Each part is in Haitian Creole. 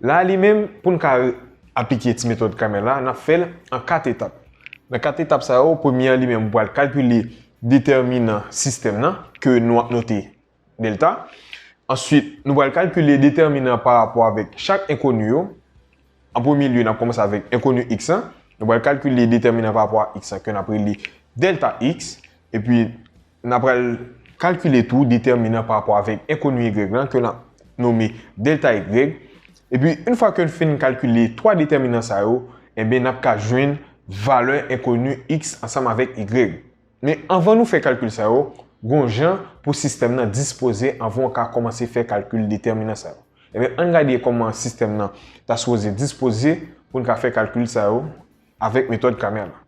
La a li menm, pou n ka aplike ti metòd Cramer la, n ap fè l an 4 etap. Nan 4 etap sa yo, premye an li menm ou pral kalkile detèminan sistèm nan, ke nou ap note delta. Answit, nou pral kalkile detèminan an pa rapò avèk chak enkoni yo. An premye lye, n ap kòmanse avèk enkoni x lan. Nou pral kalkile detèminan an pa rapò a x lan ke n ap rele delta x. Epi, N apral kalkile tou detèminan pa rapò avèk enkoni y lan ke n ap nome delta y. Epi yn fwa ke n fin kalkile 3 detèminan sa yo, enben n ap ka jwenn valè enkoni x ansanm avèk y. Men anvan nou fè kalkil sa yo, gon jan pou sistèm nan dispoze anvan w ka kòmanse fè kalkil detèminan sa yo. Enben ann gade kòman sistèm nan ta sipoze dispoze pou n ka fè kalkil sa yo avèk metòd Cramer la.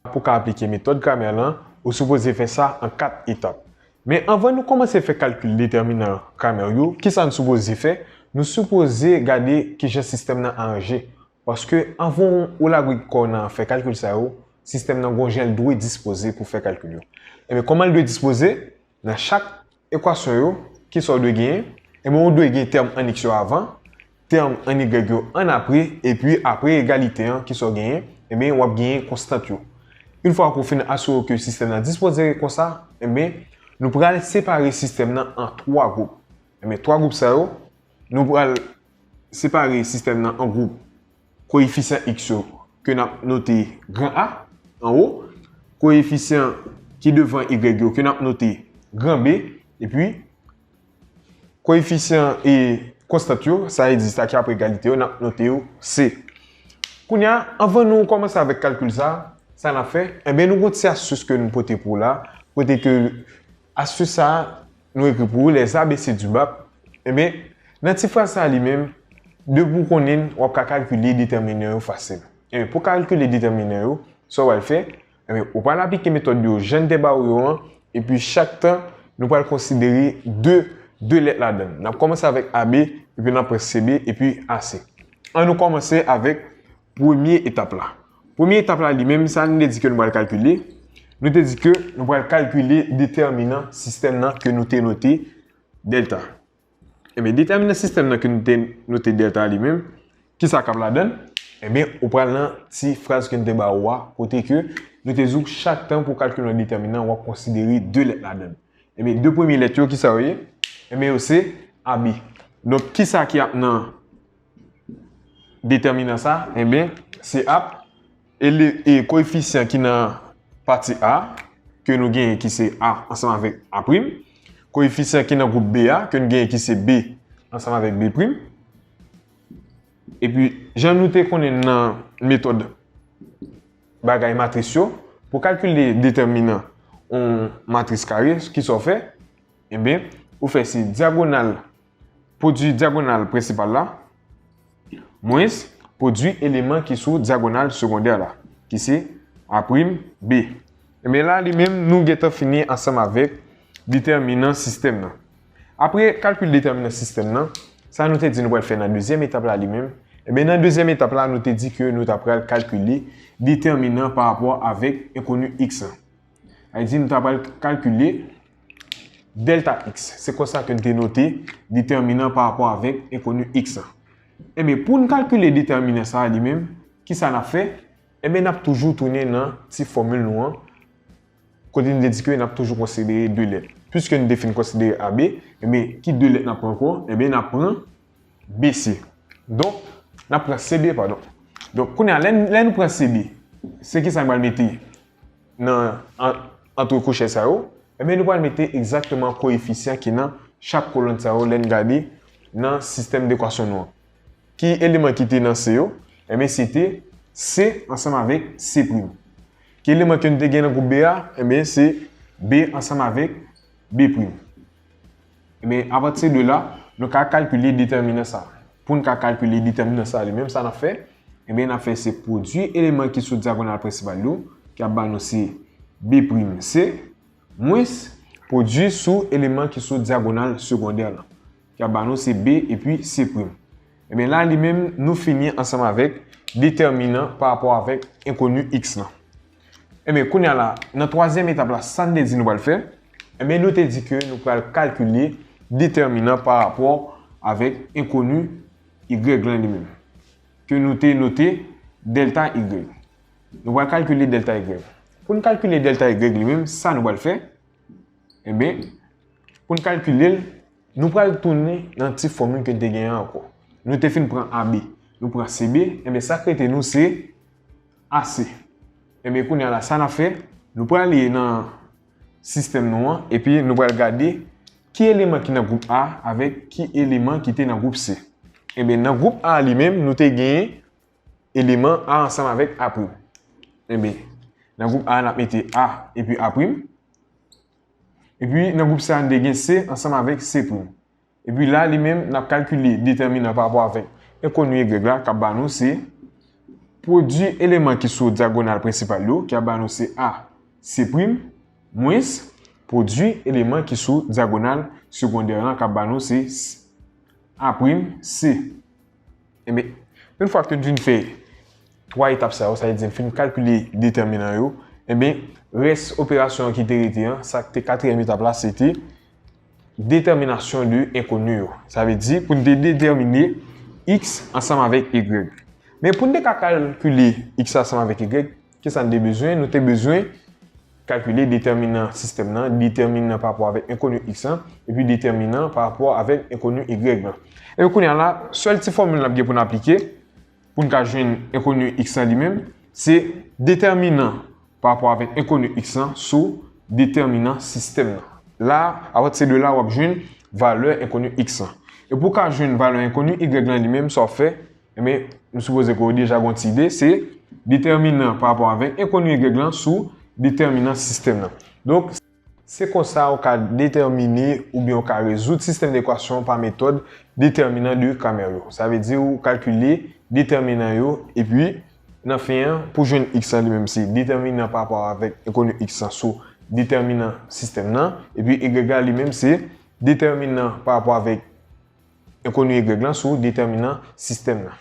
Pou w ka aplike metòd gramè lan, ou sipoze fè sa an 4 etap. Men anvan nou kòmanse fè kalkil detèminan gramè yo, kisa n sipoze fè? Nou sipoze gade kijan sistèm nan aranje. Paske anvan ou lagwe kò w nan fè kalkil sa yo, sistèm nan gon jan l dwe dispoze pou fè kalkil yo. Enben kòman l dwe dispoze? Nan chak ekwasyon yo, ki sa w dwe genyen? Enben ou dwe gen tèm an x yo avan, tèm an y yo an apre, epi apre egalite an, ki sa w genyen? Enben w ap genyen konstant yo. Yn fwa ke w fin asire w ke sistèm nan dispozere konsa, enben nou pral separe sistèm nan an 3 gwoup. Enben 3 gwoup sa yo, nou pral separe sistèm nan an gwoup Koyefisyan x yo ke n ap note gran A, anwo, koyefisyan ki devan y yo ke n ap note gran B, epi koyefisyan e konstant yo, sa egziste a ki ap egalite yo, n ap note yo C. Kounye a, anvan nou kòmanse avèk kalkil sa a, sa n ap fè? Enben, nou gen yon ti astis ke nou pote pou w la, kote ke. Astus sa a, nou ekri pou ou les ABC du bap, enben, nan ti fraz sa a li menm, depi ou konnen l, w ap ka kalkile detèminan yo fasil. Enben, pou w kalkile detèminan yo, sa w pral fè, enben, ou pral aplike metòd yo jan n te ba ou yo an, epi chak tan, nou pral konsidere de, de lèt ladan l. N ap kòmanse avèk AB, epi n ap pran CB, epi AC. An nou kòmanse avèk premye etap la. Premye etap la li menm, sa nou te di ke nou pral kalkile, nou te di ke nou pral kalkile detèminan sistèm nan ke nou te note dèlta. Enben, detèminan sistèm nan ke nou te note dèlta li menm, ki sa k ap ladan l? Enben, ou pral nan ti fraz ke nou te ba ou a, kote ke nou te di ou chak tan pou w kalkile yon detèminan, w ap konsidere 2 lèt ladan l. Enben, 2 premye lèt yo, ki sa yo ye? Enben, yo se AB. Donk, ki sa ki ap nan? Detèminan sa a, enben, se ap e koyefisyan ki nan pati A ke nou genyen ki se A ansanm avèk A prim, koyefisyan ki nan gwoup B a ke nou genyen ki se B ansanm avèk B prim. Epi, jan nou te konnen nan metòd bagay matris yo, pou kalkile detèminan yon matris kare, kisa w fè? Enben, ou fè se dyagonal. Pwodui dyagonal prensipal la mwens pwodui eleman ki sou dyagonal segondè la, ki se a', b'. Ebyen la li menm nou gentan fini ansanm avèk detèminan sistèm nan. Apre kalkil detèminan sistèm nan, sa nou te di nou pral fè nan dezyèm etap la li menm? Ebyen nan dezyèm etap la nou te di ke nou ta pral kalkile detèminan parapò avèk enkoni x lan. Sa vle di nou ta pral kalkile. Dèlta x, se konsa ke n te note detèminan pa rapò avèk enkoni x la. Enben, pou n kalkile detèminan sa a li menm, ki sa n ap fè? Enben, n ap toujou tounen nan ti fòmil nou an, kote n te di ke n ap toujou konsidere 2 lèt. Piske n te fin konsidere AB, enben, ki 2 lèt n ap pran ankò? Enben, n ap pran BC. Donk, n ap pran CB, padon. Donk, kounye a, lè nou pran CB, se ki sa n pral mete? nan antre kouchè sa yo, enben nou pral mete egzakteman koyefisyan ki nan chak kolonn sa yo lè n gade nan sistèm dekwasyon nou an. Ki eleman ki te nan C yo? Enben se te C ansanm avèk C prim. Ki eleman ke nou te gen nan gwoup B a? Enben se B ansanm avèk B prim. Ebyen, apati de la, nou ka kalkile detèminan sa. Pou n ka kalkile detèminan sa li menm, sa n ap fè, ebyen n ap fè se pwodui eleman ki sou dyagonal prensipal yo, ki ap ba nou se B' C, mwens pwodui sou eleman ki sou dyagonal segondè lan, ki ap ba nou se B epi C'. Ebyen la li menm, nou fini ansanm avèk detèminan pa rapò avèk enkoni x lan. Enben, kounye a la, nan twazyèm etap la, sa n te di nou pral fè, enben nou te di ke nou pral kalkile detèminan pa rapò avèk enkoni y lan li menm, ke nou te note dèlta y. Nou pral kalkile dèlta y. Pou n kalkile dèlta y li menm, sa nou pral fè, enben, pou n kalkile l, nou pral tounen nan ti fòmil ke n te genyen an ankò. Nou te fin pran AB, nou pran CB, enben sa k rete nou se. Ase. Ebyen kounya la sa nap fè, nou prale nan sistèm nou an epi nou pral gade ki eleman ki nan gwoup A avèk ki eleman ki te nan gwoup C. Ebyen nan gwoup A li menm nou te gen eleman A ansanm avèk A'. Ebyen nan gwoup A nap mete A epi A'. Epi nan gwoup sa nou te gen C ansanm avèk C'. Epi la li menm n ap kalkile detèminan pa rapò avèk enkoni y la k ap ba nou se pwodui eleman ki sou dyagonal prensipal yo ki ap ba nou se AC' mwens pwodui eleman ki sou dyagonal segondè lan k ap ba nou se A'C'. Enben, yon fwa ke n fin fè 3 etap sa yo, sa vle di n fin kalkile detèminan yo, enben rès operasyon an ki te rete an, sa k te katriyèm etap la se te. Detèminasyon de enkoni yo. Sa vle di pou n te detèmine x ansanm avèk y. Men pou n te ka kalkile x la ansanm avèk y, ki sa n te bezwen? Nou te bezwen kalkile detèminan sistèm nan, detèminan pa rapò avèk enkoni x lan, epi detèminan pa rapò avèk enkoni y lan. Epi kounye a la, sèl ti fòmil n ap gen pou n aplike, pou n ka jwenn enkoni x lan li menm, se detèminan pa rapò avèk enkoni x lan sou detèminan sistèm nan. La, apatise de la, w ap jwenn valè enkoni x lan. E pou w ka jwenn valè enkoni y lan li menm, sa w ap fè, enben, m sipoze ke w deja gen yon ti ide, se detèminan pa rapò avèk enkoni y lan sou detèminan sistèm nan. Donk. Se konsa ou ka detèmine oubyen ou ka rezoud sistèm dekwasyon pa metòd detèminan de Cramer yo. Sa vle di ou kalkile detèminan yo epi, nan fen an, pou jwenn x lan li menm se detèminan pa rapò avèk enkoni x lan sou detèminan sistèm lan, epi y la li menm se detèminan pa rapò avèk enkoni y lan sou detèminan sistèm lan.